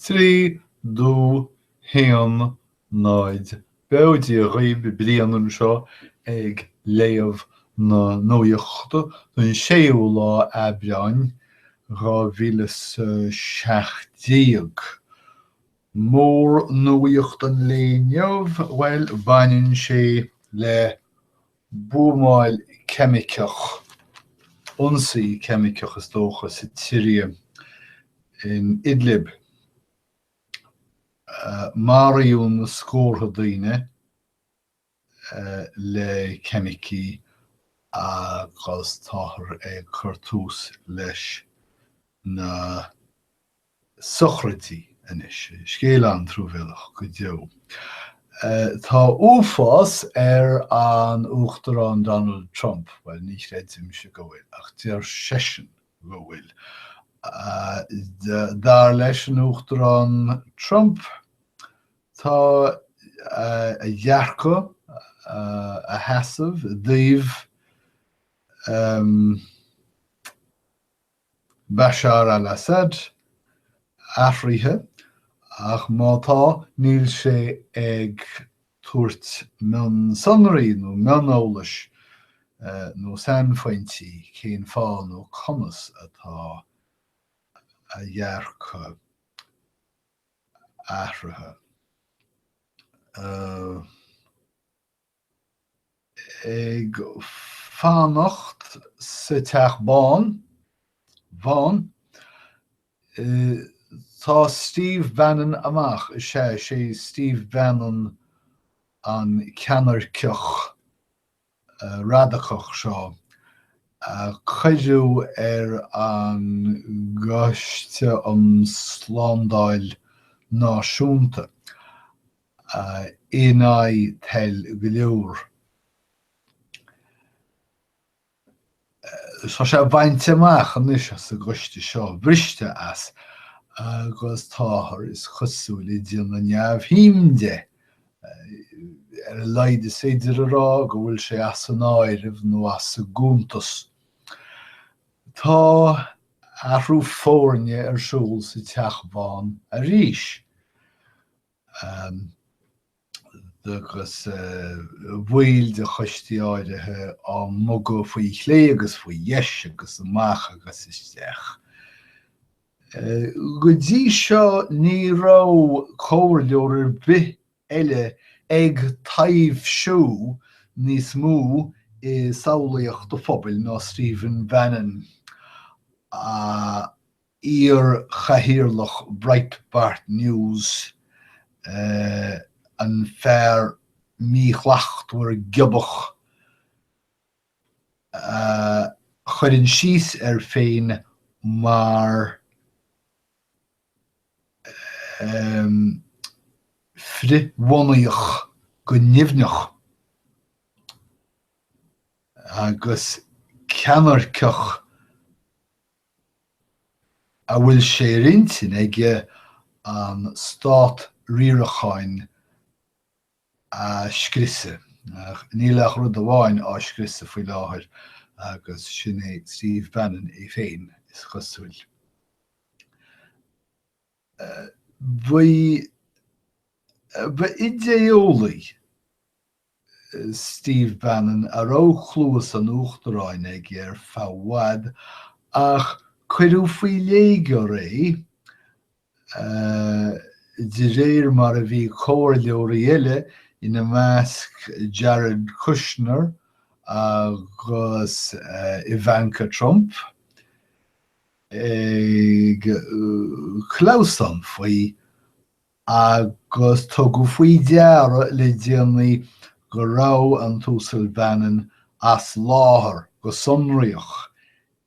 Trí, dó, haon, náid. Bail ó Dhia oraibh Brian anseo ag léamh na nuaíochta don 6ú lá Aibreáin, 2017. Mór nuaíocht an lae inniu, bhuel, baineann sé le buamáil ceimiceach, ionsaí ceimiceach is dócha, sa tSiria, in Idlib. Maraíodh na scórtha daoine le ceimicí agus táthar ag cur tús leis na. sochraidí anois. Scéal an-truamhéalach go deo. Tá uafás ar an Uachtarán Donald Trump, bhuel, ní chreidimse go bhfuil, ach deir seisean go bhfuil. Dar leis an Uachtarán Trump, tá a dhearcadh, a sheasamh i dtaobh, Bashar al-Assad athraithe, ach má tá, níl sé ag tabhairt mionsonraí nó mioneolas nó sainphointí cén fáth nó conas atá a dhearcadh athraithe. Ag fanacht sa Teach Bán, bhán, tá Steve Bannon amach, is é, sé Steve Bannon an ceannairceach radacach seo a cuireadh ar an gCoiste um Slándáil Náisiúnta in aghaidh toil go leor. Tá sé bainte amach anois as an gCoiste seo, briste as, agus táthar, is cosúil, ag déanamh neamhshuim de. Ar a laghad is féidir a rá go bhfuil sé as an áireamh nó as an gcuntas. Tá athrú foirne ar siúl sa Teach Bán arís. agus baill de choistí áirithe á mbogadh faoi chlé agus faoi dheis agus amach agus isteach. Go dtí seo ní raibh comhairleoir ar bith eile ag taibhsiú níos mó i samhlaíocht an phobail ná Stephen Bannon. iar-chathaoirleach Breitbart News, an fear míshlachtmhar giobach a chuireann síos air féin mar frithbhunaíoch go nimhneach, agus ceannairceach a bhfuil sé ar intinn aige an Stát Riaracháin a scriosadh. Níl ach rud amháin á scriosadh faoi láthair agus sin é Steve Bannon é féin, is cosúil. Ba idé-eolaí é. Steve Bannon, a raibh cluas an Uachtaráin aige ar feadh i bhfad, ach cuireadh faoi léigear é de réir mar a bhí comhairleoirí eile, ina measc Jared Kushner agus Ivanka Trump, ag clamhsán faoi. Agus tugadh faoi deara le déanaí go raibh an tUasal Bannon as láthair go sonraíoch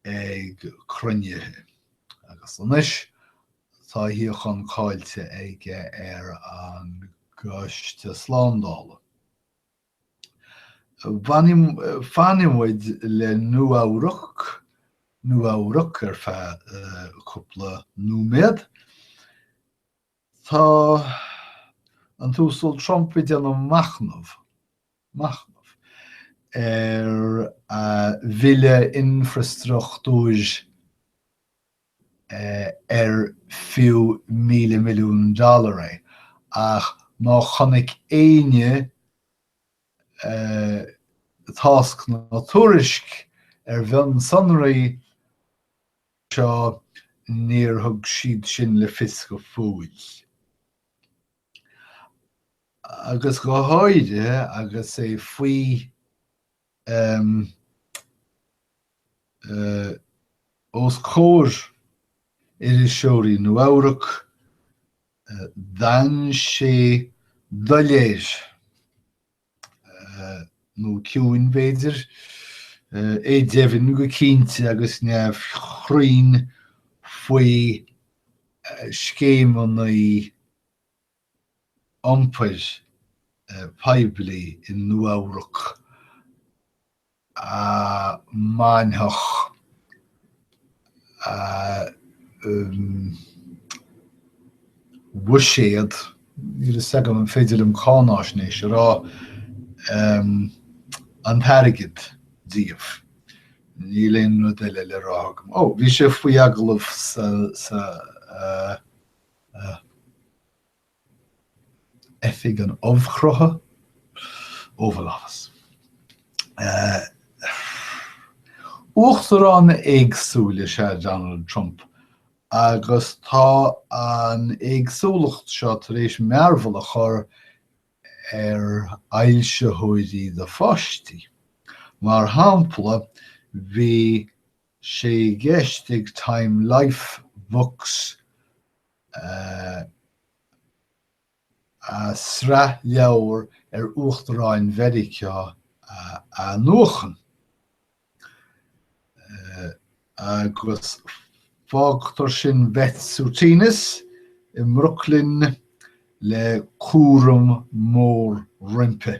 ag cruinnithe agus anois tá a shuíochán caillte aige ar an gCoiste Slándála. Fanfaidh muid le Nua-Eabhrac, Nua-Eabhrac ar feadh cúpla nóiméad. Tá an tUasal Trump ag déanamh machnamh, machnamh, ar a bhille infreastruchtúir ar fiú míle milliún dollar é ach má chonaic éinne tásc ná tuairisc ar mhionsonraí, seo, níor thug siad sin le fios go fóill. Agus go háirithe agus é faoi os comhair iriseoirí Nua-Eabhrac, d'fhan sé doiléir. nó ciúin, b'fhéidir. É deimhin go cinnte agus neamhchruinn faoi scéimeanna iompair poiblí i Nua-Eabhrac. a mbainfeadh a bhuiséad, níl fhios agam an féidir liom cáináisnéis a rá, an t-airgead díobh. Níl aon rud eile le rá agam. Ó, bhí sé faoi agallamh sa, sa, Oifig Ubhchruthach, Oval Office. Uachtarán éagsúil is ea Donald Trump agus tá an éagsúlacht seo tar éis mearbhall a chur ar fhoilsitheoirí do pháistí. Mar shampla, bhí sé i gceist ag Time Life Books a sraith leabhar ar Uachtaráin Mheiriceá a nuachan, agus fágtar sin Beth Sutinis i mBrooklyn le cúram mór roimpi.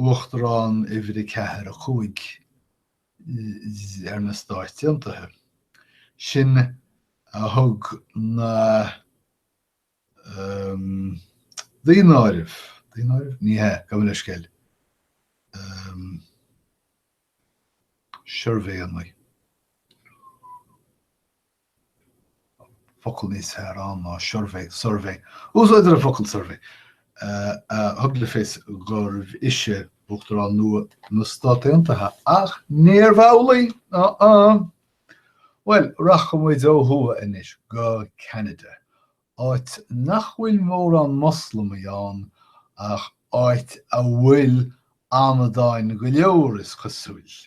Uachtarán uimhir a ceathair a cúig ar na Stáit Aontaithe. Sin a thug na daonáirimh, daonáirimh? Ní hea, gabh mo leithscéal. Suirbhéanna. focal níos fearr ann ná suirbhé, suirbhé. Úsáidtear an focal suirbhé a thug le fios gurbh ise Uachtarán nua na Stát Aontaithe ach níorbh amhlaidh. Uh-uh. Bhuel, rachaidh muid ó thuaidh anois go Ceanada, áit nach bhfuil mórán Moslamaigh ann ach áit a bhfuil amadáin go leor, is cosúil.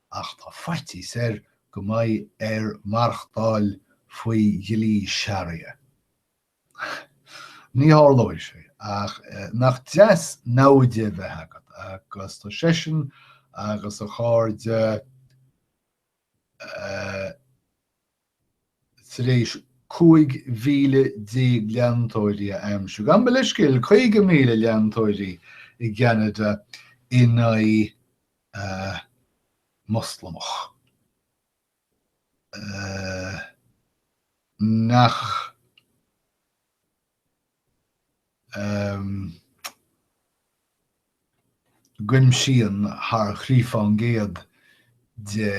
ach tá faitíos air go mbeidh air maireachtáil faoi dhlí Sharia. Ní tharlóidh sé, ach nach deas namhaid a bheith agat agus tá seisean agus a chairde tar éis 15,000 leantóirí a aimsiú, gabh mo leithscéal, 50,000 leantóirí i gCeanada in aghaidh Moslamach nach. gcuimsíonn thar thrí fán gcéad de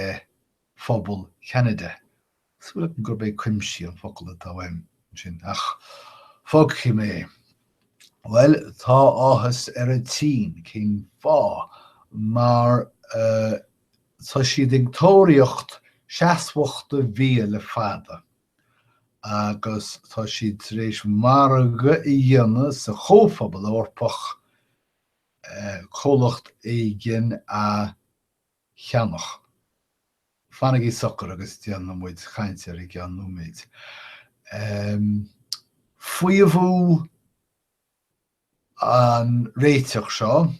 phobal Cheanada, sílim gurb é cuimsíonn an focal atá uaim ansin, ach fágfaidh mé é. Bhuel, tá áthas ar an tSín, cén fáth? mar tá siad ag tóraíocht seasmhachta bhia le fada. agus tá siad tar éis margadh a dhéanamh sa Chomhphobal Eorpach comhlacht éigin a cheannach. Fanaigí socair agus déanfaidh muid caint air i gceann nóiméid. Faomhadh. an réiteach seo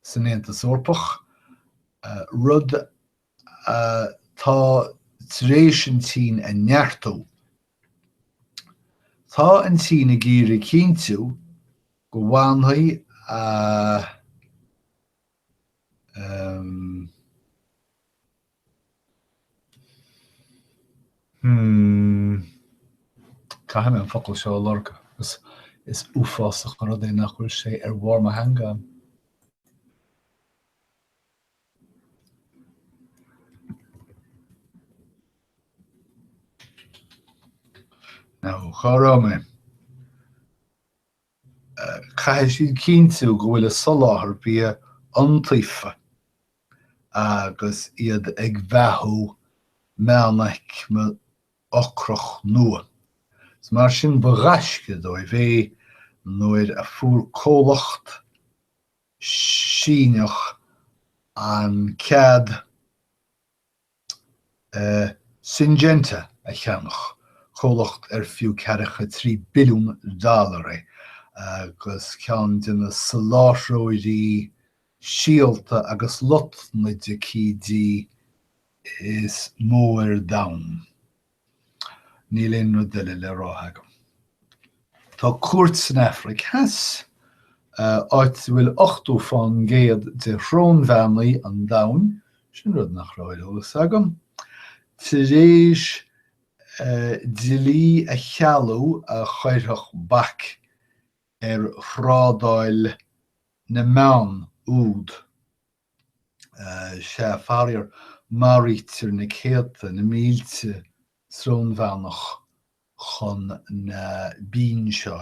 san Aontas Eorpach, rud atá tar éis an tSín a neartú. Tá an tSín ag iarraidh cinntiú go bhfanfaidh a Hmm. Caithfidh mé an focal seo a lorg agus is uafásach an rud é nach bhfuil sé ar bharr mo theanga. Now, cá raibh mé? caithfidh siad cinntiú go bhfuil a soláthar bia iontaofa agus iad ag beathú meánaicme ocrach nua. So mar sin ba ghaisce dóibh é nuair a fuair comhlacht Síneach an cead, Syngenta a cheannach, comhlacht ar fiú ceathracha trí billiún dollar é agus ceann de na soláthróirí síolta agus lotnaidicídí is mó ar domhan. Níl aon rud eile le rá agam. Tá cúirt san Afraic Theas, áit a bhfuil 80% de shrónbheannaigh an domhain, sin rud nach raibh ar eolas agam, tar éis dlí a chealú a chuirfeadh bac ar thrádáil na mbeann úd. sea, faraor, maraítear na céadta, na mílte srónbheannach chun na binn seo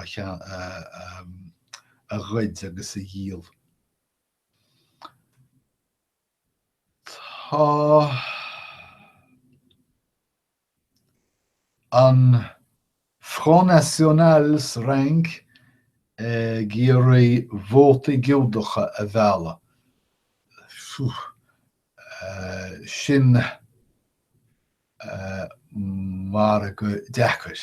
a ghoid agus a dhíol. Tá. An Front National sa Fhrainc ag iarraidh vótaí Giúdacha a mhealladh. Phew. Sin margadh deacair.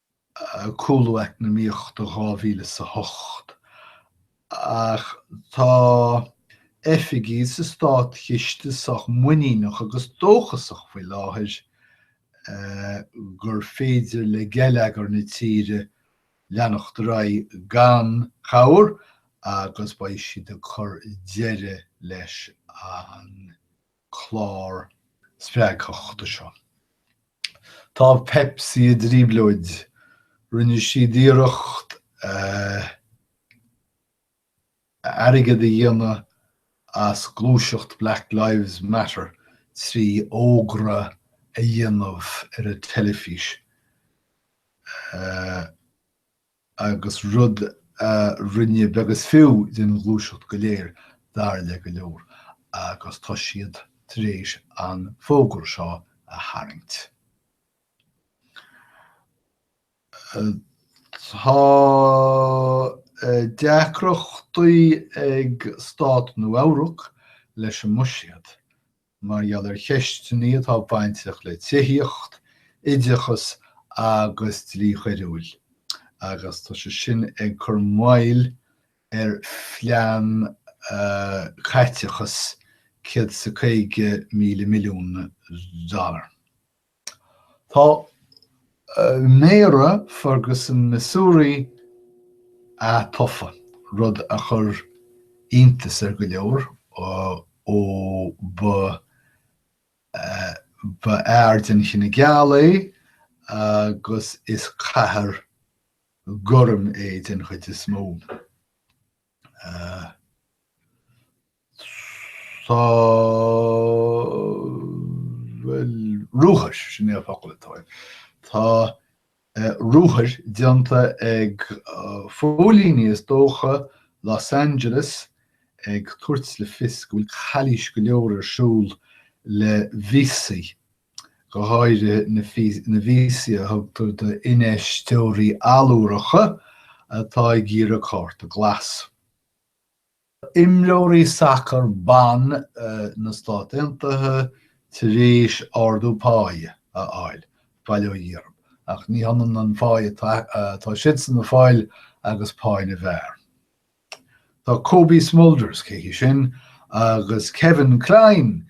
cúlú eacnamaíochta dhá mhíle is a hocht. Ach tá oifigigh sa Státchiste sách muiníneach agus dóchasach faoi láthair gur féidir le geilleagar na tíre leanacht ar aghaidh gan chabhair agus beidh siad ag cur deireadh leis an clár spreagthachta seo. Tá Pepsi i dtríoblóid. Rinne siad iarracht airgead a dhéanamh as gluaiseacht Black Lives Matter trí fhógra a dhéanamh ar an teilifís. agus rud a rinne beag is fiú den ghluaiseacht go léir dar le go leor, agus tá siad tar éis an fógra seo a tharraingt. Tá deacrachtaí ag Stát Nua-Eabhrac leis an mbuiséad, mar gheall ar cheisteannaí atá bainteach le tithíocht, oideachas agus dlí choiriúil agus tá sé sin ag cur moill ar phlean caiteachas céad is a caoga míle milliún dollar. Tá Méara Ferguson Missouri atofa, rud a chur iontas ar go leor, ó ba fhear den chine geal é agus is cathair gorm é den chuid is mó. Tá ruathar, sin é an focal atá ann. Tá ruathar déanta ag póilíní, is dócha, Los Angeles ag tabhairt le fios go bhfuil calaois go leor ar siúl le víosaí, go háirithe na víosaí a thugtar d'infheisteoirí allúracha atá ag iarraidh cárta glas. Tá imreoirí sacair ban na Stát Aontaithe tar éis ardú páí a fháil, bail ó Dhia oraibh, ach ní hionann an pháí atá siadsan a fháil agus páí na bhfear. Tá Cobie Smulders, cé hí sin? agus Kevin Klein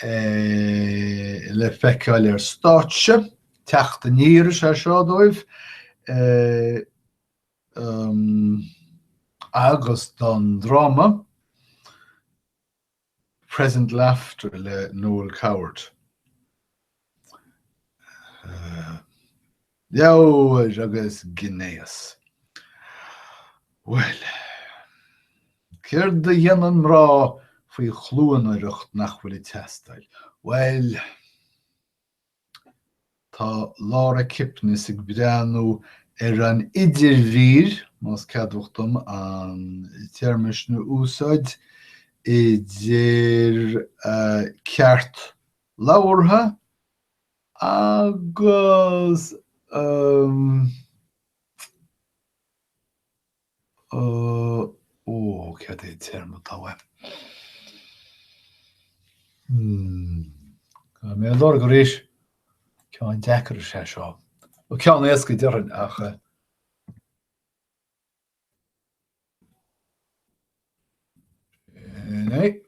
le feiceáil ar stáitse, teacht aniar is ea é seo dóibh. agus don dráma Present Laughter le Noel Coward. Leabhair agus gnéas. Bhuel. Céard a dhéanann mná faoi chluanaireacht nach bhfuil ag teastáil? Bhuel. Tá Laura Kipnis ag breathnú ar an idirmhír, más ceadmhach dom an téarma sin a úsáid, idir ceart labhartha agus. Ó, cad é an téarma atá uaim? Tá mé á lorg arís. Ceann deacair is ea é seo. Nó ceann éasca déarfainn ach. Sin é.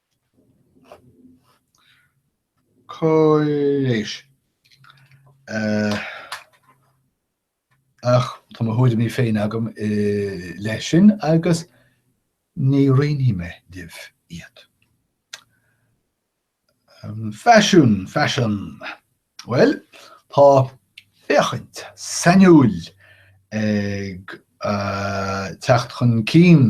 Cáiréis. Ach tá mo thuairimí féin agam leis sin agus ní roinnfidh mé libh iad. Faisiún, Fashion. Bhuel, tá féachaint sainiúil ag teacht chun cinn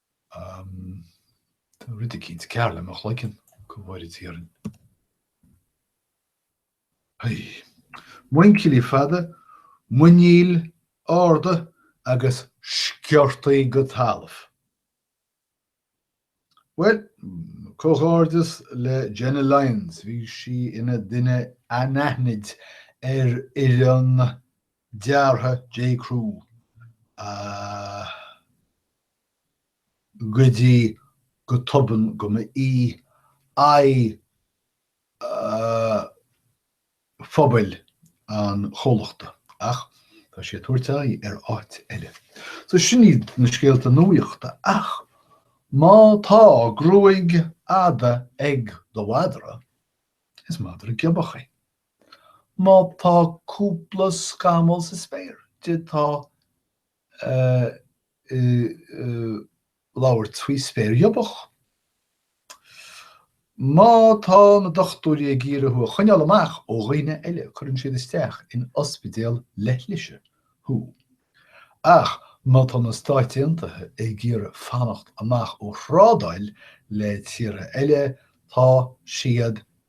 Tá rud eicínt cearr le mo chloigeann, go bhfóire Dia orainn. Muinchillí fada, muiníl arda agus sciortaí go talamh. Bhuel, comhghairdeas le Jenna Lyons, bhí sí ina duine anaithnid ar fhoireann deartha J Crew. go dtí go tobann go mba í aghaidh phobail an chomhlachta. Ach tá sí ag tabhairt aghaidh ar áit eile. So sin iad na scéalta nuaíochta. Ach má tá gruaig fhada ag do mhadra, is madra giobach é. Má tá cúpla scamall sa spéir duit, tá tú ag labhairt faoi spéir ghiobach. Má tá na dochtúirí ag iarraidh thú a choinneáil amach ó dhaoine eile cuireann siad isteach in ospidéal leithlise thú. Ach má tá na Stáit Aontaithe ag iarraidh fanacht amach ó thrádáil le tíortha eile tá siad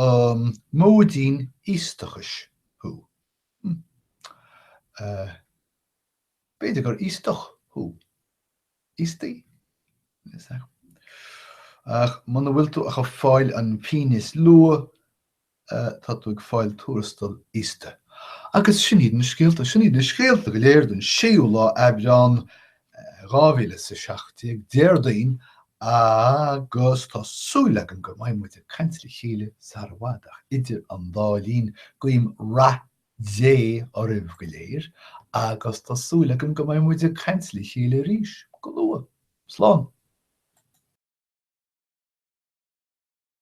An móidín íostachais thú? Hm. Eh. b'fhéidir gur íostach thú. Íostaí? Ach muna bhfuil tú ach ag fáil an phínn is lú, eh, tá tú ag fáil tuarastal íosta. Agus sin iad na scéalta. Sin iad na scéalta go léir den séú lá Aibreán 2017, Déardaoin, agus tá súil agam go mbeidh muid ag caint le chéile sar i bhfad ach idir an dá linn guím rath Dé oraibh go léir agus tá súil agam go mbeidh muid ag caint le chéile arís go luath. Slán.